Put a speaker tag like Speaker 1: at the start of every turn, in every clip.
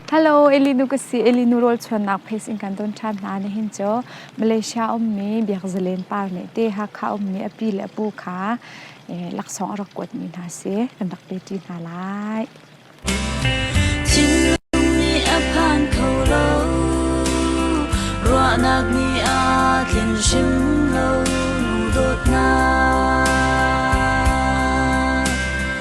Speaker 1: Hello, Elinu ka si Elinu rawlchuannak phes in kan ton ṭhan hna ni hin cu Malaysia ummi Biakzalen par nih te Hakha ummi api le apu kha laksawng a rak kuatmi hna si kan rak peti hna lai. Chin nih a phan kho lo, ruahnak nih a tling hrim lo, dawtnak.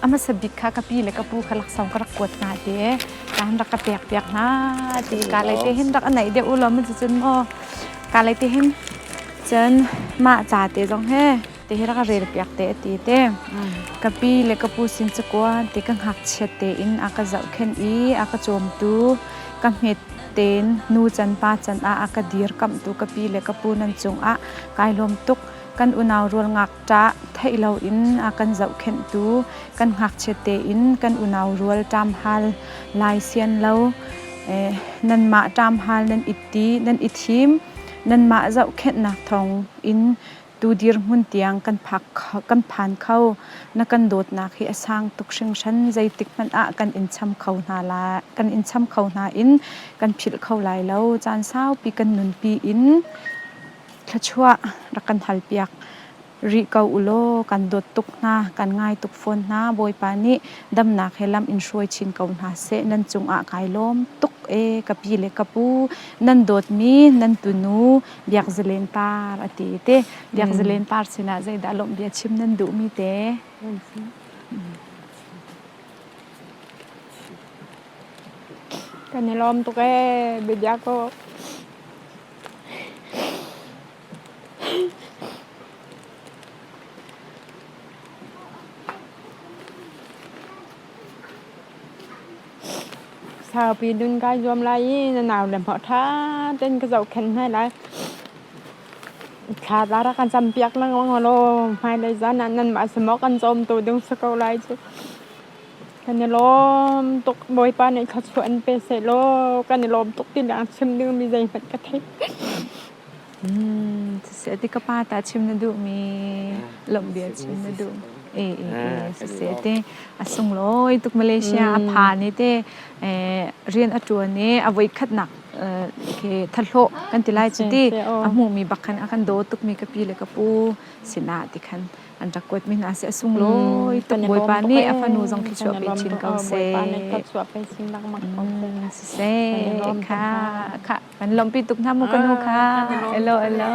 Speaker 1: a hmasa bik kha ka pi le ka pu ka laksawng ka rak kuat hna te ka han rak ka pek piak hna ti ka lei te hin rak a naih deuh u law cu cun maw ka lei te hin cun mah ca te zong he te hi rak rel piak te ti te ka pi le ka pu sin cu kuan te ka ngakchiat te in a ka zoh khen i a ka chawmtu ka hmet ten nu chan pa chan ah a ka dir kam tu ka pi le ka pu nan cung ah kai lom tuk kan unau rual ngak ṭah theih loin a kan zohkhenhtu kan ngakchiat tein kan unau rual ṭamhal lai sian lo. Nanmah ṭamhal nan it ti nan i thim, nanmah zohkhenhnak thawng in tu dirhmun tiang kan phan kho. Na kan dawtnak hi a sang tuk hringhran, zeitikhmanh ah kan in cham kho hna in kan philh kho lai lo. Caan saupi kan nunpi in thluachuah rak kan halpiak rih ko u law kan dawt tuk hna, kan ngai tuk fawn hna. Bawipa nih damnak he lam in hruai chin ko hna seh. Nan cungah kai lawm tuk e ka pi le ka pu. Nan dawtmi nan tunu Biak Zalen Par a ti te. Biak Zalen Par sinah zeidah lawmh bia chim nan duhmi te? Kan i lawm tuk ee, Biadiako. Saupi dun kai zuam lai i na nau le hmuh ṭha tein ka zohkhenh hna lai. Thla tlar a kan campiak lengmang law hmailei zan ah nanmah semua kan cawmtu ding si ko lai cu. Kan i lawm tuk. Bawipa nih thluachuah in pe seh law kan i lawm tuk tiah a chim dingmi zeihmanh ka theih. Siseh ti ka pa ta chim na duhmi lawmhbia chim na duh. E e e siseh ti a sunglawi tuk Malaysia a phan i ti rian a ṭuan i a voikhatnak khi thathlawh kan ti lai cu ti a hmuhmi bak khan a kan daw tukmi ka pi le ka pu sinah ti khan. an rak kuat mi hna seh a sunglawi tuk bawipa nih a fanu zong thil chuahpi chin ko seh siseh kha kha kan lawmpi tuk hna mu kanu kha elo elo